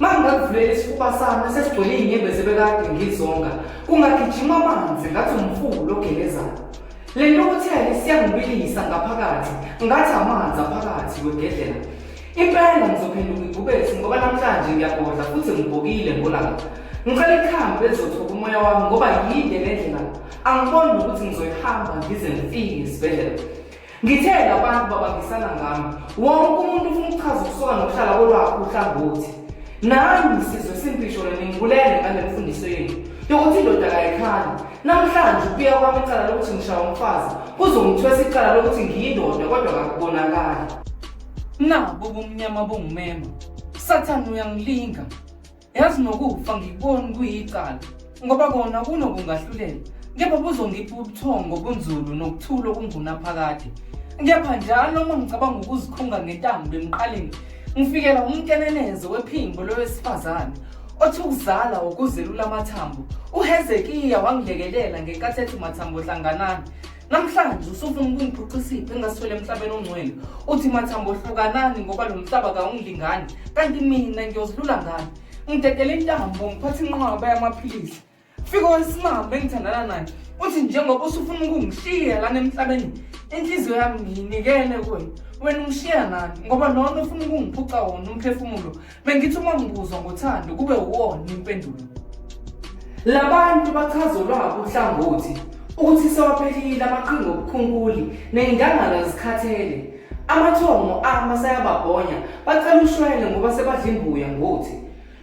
mangingakuvulela isifuba sami esesigcwele iy'nyembezi ebekade ngizonga kungagijima amanzi ngathi umfulu ogelezayo le nto okuthele siyangibilisa ngaphakathi ngathi amanzi aphakathi kwegedlela impela ngizophenduka ibhubesi ngoba namhlanje ngiyagodla futhi ngibhokile ngolanga ngicela ikhambi elizothoba umoya wami ngoba yinde le ndlela angiboni nokuthi ngizoyihamba ngize ngifike esibhedlela Ngithe labantu babangisana ngami, wonke umuntu ufuna ukuchaza ukusoka nokuhlala kolwakho uhlangothi. Nami sizwe simphisho ningibulele ngale mfundiso yenu yokuthi indoda kayikhali. Namhlanje ukuya kwami icala lokuthi ngishaya umfazi kuzongithwesa icala lokuthi ngiyindoda kodwa kakubonakali. Nabu ubumnyama bungumema. Sathane uyangilinga. yazi nokufa ngikuboni kuyicala ngoba kona kunokungahlulela kepha buzongipha ubuthongo bunzulu nokuthula okungunaphakade kepha njalo uma ngicabanga ukuzikhunga ngentambo emqaleni ngifikela umkenenezo wephimbo lowesifazane othi ukuzala ukuzelula amathambo uhezekiya wangilekelela ngenkathi ethi mathambo hlanganani namhlanje usufuna ukungiphuca isiphi engasithole emhlabeni ongcwele uthi mathambo hlukanani ngoba lo mhlaba kawungilingani kanti mina ngiyozilula ngani ngidedele intambo ngiphathe inqwaba yamaphilisi fika wesimame engithandana naye uthi njengoba usufuna ukungishiya lana emhlabeni inhliziyo yami ngiyinikele kuwena wena ungishiya nani ngoba lona ufuna ukungiphuca wona umphefumulo Bengithi uma ngibuzwa ngothando kube uwona impendulo. Labantu bachaza olwabo uhlangothi ukuthi sewaphelile amaqhinga obukhunkuli ney'ndangala zikhathele. Amathongo ama sayababhonya bacela ushwele ngoba sebadla imbuya ngothi.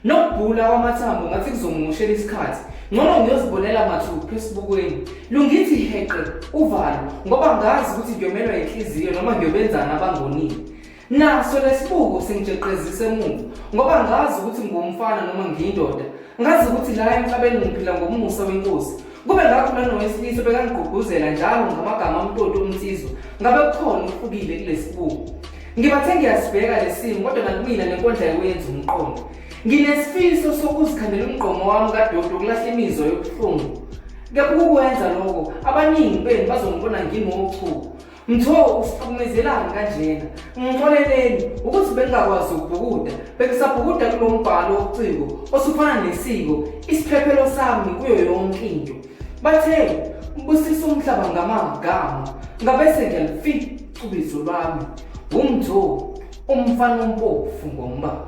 Nokubhula kwamathambo ngathi kuzongimushela isikhathi. Ngcono ngiyozibonela mathupha esibukweni. Lungithi heqe uvalo ngoba ngazi ukuthi ngiyomelwa yinhliziyo noma ngiyobenzana abangonile. Naso lesibuko singijeqezisa emuva ngoba ngazi ukuthi ngiwumfana noma ngiyindoda. Ngazi ukuthi la emhlabeni ngiphila ngomusa wenkosi. Kube ngakho lona wesilisa bekangigqugquzela njalo ngamagama omtoti omnsizwa. Ngabe kukhona ukufukile kulesibuko. Ngibathe ngiyasibheka lesimo kodwa nakumina nenkondla yokuyenza umqondo. Nginesifiso sokuzikhandela umgqomo wami kadodo ukulahla imizwa yobuhlungu. Kepha ukukwenza lokho abaningi benu bazongibona ngingochuku. Mtho usihlukumezelani kanjena? Ngixoleleni ukuthi bengingakwazi ukubhukuda. Bengisabhukuda kulo mbhalo wobuciko osufana nesiko, isiphephelo sami kuyo yonke into. Bathe ubusisa umhlaba ngamagama. Ngabese ngiyalifica ubizo lwami. Wumtho umfana ompofu ngombala.